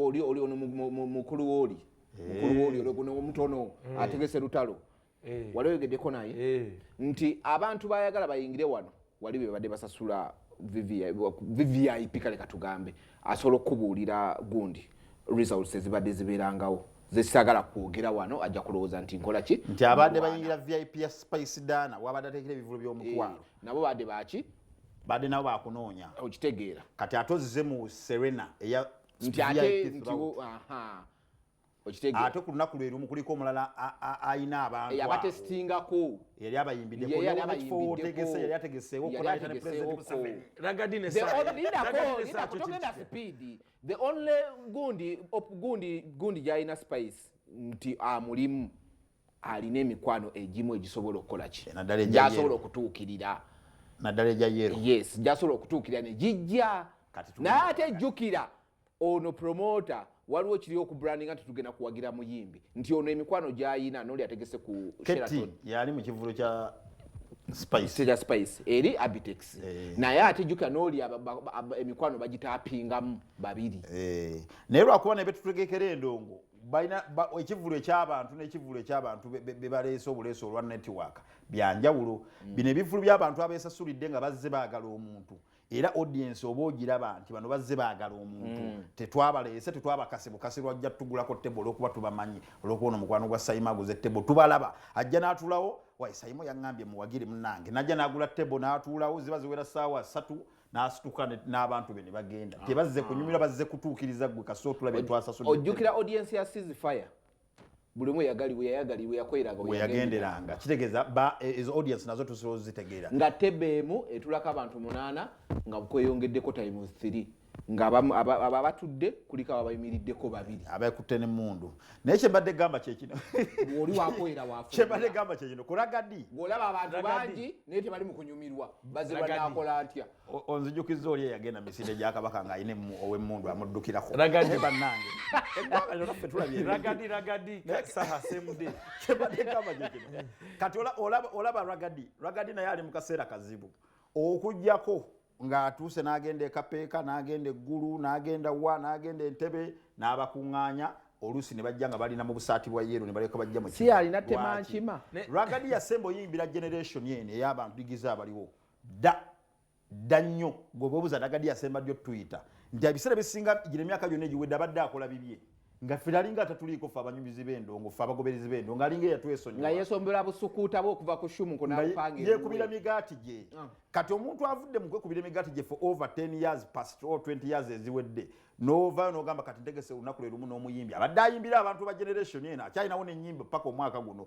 oli oli ono mukulu woli eh. mukulu woli oli guno omutono eh. ategese lutalo eh. wali oyogedeko naye nti abantu bayagala bayingire wano wali bebadde basasula vvip kale katugambe asobola okukubuulira gundi results ezibadde zibeerangawo zesagala kwogera wano ajja kulowooza nti nkola ki nti abadde bayingira vip ya spice dana wabadde ateekera ebivulu by'omukwalo eh, nabo badde baki badde nabo bakunoonya okitegeera kati ate ozze mu serena eya nti ate nti ate ku lunaku lwe lumu kuliko omulala alina abantuabatesitingako yali abayimbiddekifootegese yali ategeseewo the only gundi gundi gundi gyalina spice nti amulimu alina emikwano egimu egisobola okukola ki gyasobola okutuukirira naddala egya yero yes gyasobola okutuukirira ne gijja naye ate jjukira ono promoter waliwo kiri oku branding ati tugenda kuwagira muyimbi nti ono emikwano gyayina noli ategese ku Sheraton yali mu kivulu kya spice kya spice eri abitex eh. naye ati juka noli emikwano bagitapingamu babiri eh. naye lwakuba naye betutegekera endongo balina ekivulu ekyabantu nekivulu ekyabantu bebaleese obuleesa olwa network byanjawulo mm. bino ebivulu byabantu abesasulidde nga bazze bagala omuntu era audience oba ogiraba nti bano bazze baagala omuntu mm. tetwabaleese tetwabakase bukasi lwajja tugulako tebo olwokuba tubamanyi olwokuba ono mukwano gwa sayima aguze tebo tubalaba ajja n'atuulawo wayi sayima yaŋambye muwagire munange najja n'agula tebo n'atuulawo ziba ziwera saawa satu n'asituka n'abantu be ne bagenda ah. tebazze kunyumira bazze kutuukiriza gwe kasootola bye twasasudde ojjukira audience ya seas fire buli omu yagalibwa yayagalibwa yakoleranga weyagenderanga kitegeeza ba e, ezo audience nazo tusobola ozitegeera nga tebe emu etulako abantu munaana nga kweyongeddeko times three nga abatudde kuliko abo abayimiriddeko babiri abakutte nemundu naye kyembadde gamba kyekino oli wakoera wakyembadde gamba kyekino kulaga di olaba abantu bangi naye tebali mukunyumirwa bazibanakola ntya onzijukizza oli eyagenda misinde gya kabaka ng'alina ow'emmundu amuddukirako ragadi bannange eggwanga lyona ffe tulabye ragadi ragadi saha semude kyebadde kama gyekino kati olaba ragadi ragadi naye ali mu kaseera kazibu okugyako ng'atuuse n'agenda ekapeeka n'agenda eggulu n'agenda wa n'agenda entebe n'abakuŋŋaanya oluusi ne bajja nga balina mu busaati bwa yeero ne baleka bajja mu si alina temankima ragadi yasemba oyimbira generation eno ey'abantu digiza abaliwo Dda dda nnyo gwe bwebuza nagadi yasemba ddi otuyita nti ebiseera bisinga gino emyaka gyonna egiwedde abadde akola bibye nga ffe alinga atatuliiko ffe abanyumizi b'endongo ffe abagoberezi b'endongo alinga eyatwesonyi nga yesombera busukuuta bwe okuva ku shumu kunayekubira migaati gye ah. kati omuntu avudde mu kwekubira emigaati gye for over 10 years past or 20 years eziwedde novayo nogamba kati ntegese olunaku lwe lumu n'omuyimbi abadde ayimbira abantu ba generation eno akyalinawo nenyimba paka omwaka guno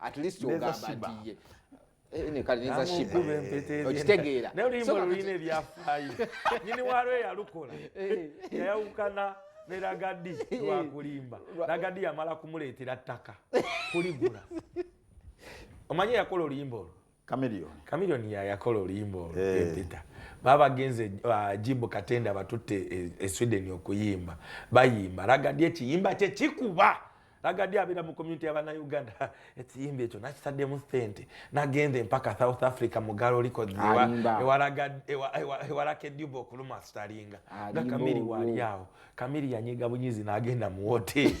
at least ogamba nti ye eh, kale neza shiba okitegeera naye oluyimba olulina ebyafaayo nyini waalwo eyalukola eh. yayawukana ne lagadi eh. lwakulimba lagadi yamala kumuleetera ttaka kuligula omanyi yakola oluyimba olwo Chameleone. Chameleone ya yakola oluyimba olwo hey. Eh. Peter. Baba genze uh, jimbo katenda batutte e, e Sweden okuyimba. Bayimba laga die kiyimba kye kikuba. Laga die abira mu community ya bana Uganda. Ekiyimba ekyo nakitadde mu sente. Nagenze mpaka South Africa mu Garo liko diwa. Ewa laga ewa ewa, ewa lake dubo kuluma staringa. Nga kamili wali yao. Kamili ya nyega bunyizi na agenda mu hotel.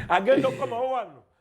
agenda kwa mawano.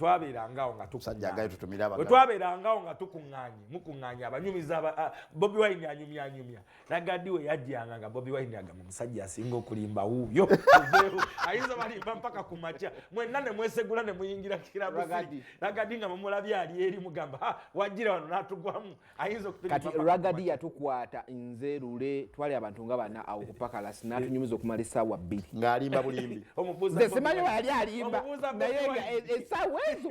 twabeerangawo nga tukuŋŋaanyetwabeerangawo nga tukuŋŋaanye mukuŋŋaanye abanyumiza bobi wine anyumyanyumya nagadi we yajjanga nga bobi wine agamba omusajja asinga okulimba wuuyo ayinza balimba mpaka ku makya mwenna ne mwesegula ne muyingira kirabusi nagadi nga mumulabye ali eri mugamba wajjira wano n'atugwamu kati ragadi yatukwata nze lule twali abantu nga bana awo kupakalasi natunyumiza okumala esaawa bbiri ngaalimba bulimbi simanyi weyali alimba naye nga e- esaawa ezo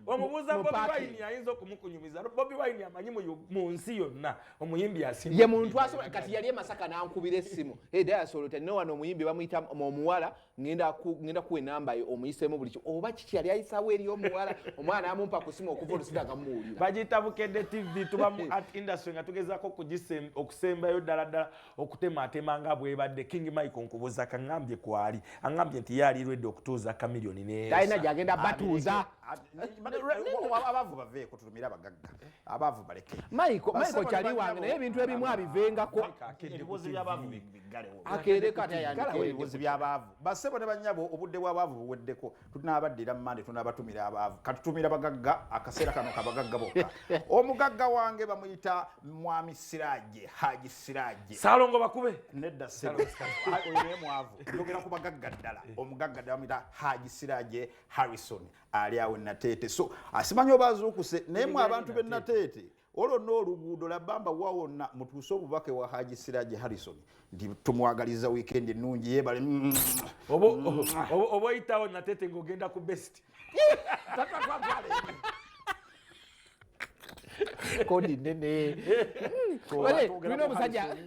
omubuuza bobiwine ayinza okumukunyumiza bobiwine amanyi mu nsi yonna omuyimbi asimye muntu asobola kati yali emasaka nankubira essimu edayasolo tanina wano omuyimbi bamuyita omuwala hey, ngenda ku ngenda kuwe namba ye omuyisemu buli oba kiki yali ayisawo eri omuwala omwana amumpa kusima okuva olusida kamuwulira bagiyita bukedde tv tuba mu art industry nga tugezako okusembayo ddala ddala okutemaatema nga bwebadde king michael nkubuza kangambye kwali angambye nti ye ali redi okutuuza kamiliyoni netalina gyagenda batuuza abavu baveeko tulumire abagagga abavu baleke michael michael kyali wange naye ebintu ebimu abivengako ebibuuzo byabavu akeerekaebibuzi byabaavu basebo ne banyabo obudde bwabaavu buweddeko tunabaddira mumande tunabatumira abaavu katutumira bagagga akaseera kano kabagagga bokka omugagga wange bamuyita mwami siraje haji siraje salongo bakube nedda sebmwavu yogera ku bagagga ddala eh. omugagga ddala bamuyita haji siraje harrison ali awo nateete so asimanyi oba azuukuse naye mwe abantu be nateete olwo n'oluguudo labamba wawonna mutuuse obubaka ewa haji siraji harrison nti tumwagaliza wiikendi ennungi yeebale oba oyitawo natete ngaogenda ku best kodi nene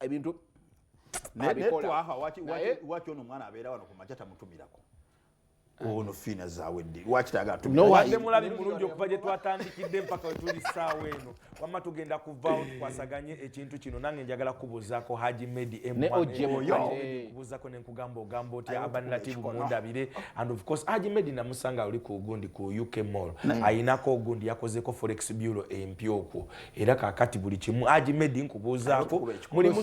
ebintu waki ono omwana abeera wano kumakya tamutumirako ono fiina zawedde wakitagatemulabi mulungi okuva gye twatandikidde mpaka wetuli saawa eno wamma tugenda kuvaawo tukwasaganye ekintu kino nange njagala kubuuzaako haji medi mkubuuzako nenkugamba ogamba otya abanlatibu mundabire and of course haji medi namusanga oli ku gundi ku uk mall ayinako ogundi yakozeko forex bureau empya okwo era kakati buli kimu aji medi nkubuuzaako mulimu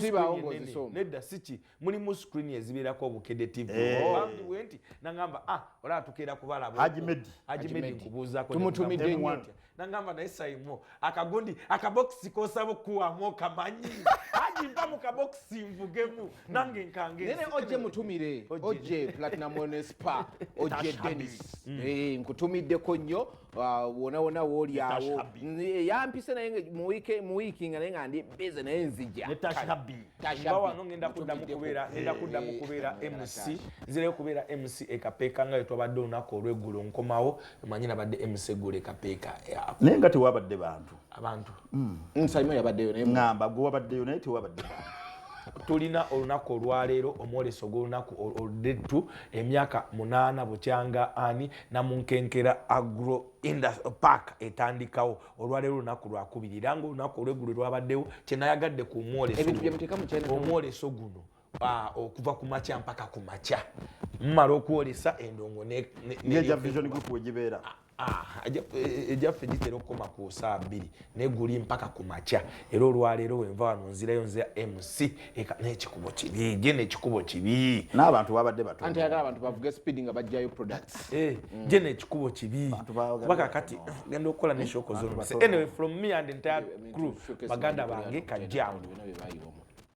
nedda siki mulimu screen ezibeerako obukede tv bambiwe nti nagamba ah olaba tukeera kubalabajimedi nkubuuzaakotumutumidde nyo nagamba naye saimo akagundi akabokisi kosaba okukuwamu okamanyi aji mpa mu kabokisi nvugemu nange nkangene oje mutumire oje platinum onespa oje denis nkutumiddeko nnyo Ah, wona wona woli awo yampise naye mu wiki mu wiki nga nenga ndi busy naye nzija ne tasha b tasha b no ngenda kudda mu kubera ngenda eh, kudda mu eh, kubera eh, mc zile kubera mc e kapeka nga yetwa badde onako olwegulo nkomawo manyina badde mc gule kapeka nenga tewabadde bantu abantu mm. mm, salima yabaddeyo naye ngamba gwe wabaddeyo naye tewabadde tulina olunaku olwaleero omwoleso gwolunaku oludettu emyaka munaana bukyanga ani namunkenkera agro park etandikawo olwaleero olunaku lwakubiri era nga olunaku olweggulo lwabaddewo kyenayagadde ku omwoleso guno Ah, okuva ku makya mpaka ku makya mumala okwolesa endongo neja vision group wegibeera egyaffe ah, ah, gitera okukoma ku saa bbiri naye guli mpaka ku makya era olwaleero wenva wano nzirayo nze mc nekikubo kibi je nekikubo kibi n'abantu babadde batanti ayagala abantu bavuge speed nga bajjayo products eh, mm. je nekikubo kibi kuba kakati genda okukola neshoko zonna anyway from me and entire crew baganda bange kajjangu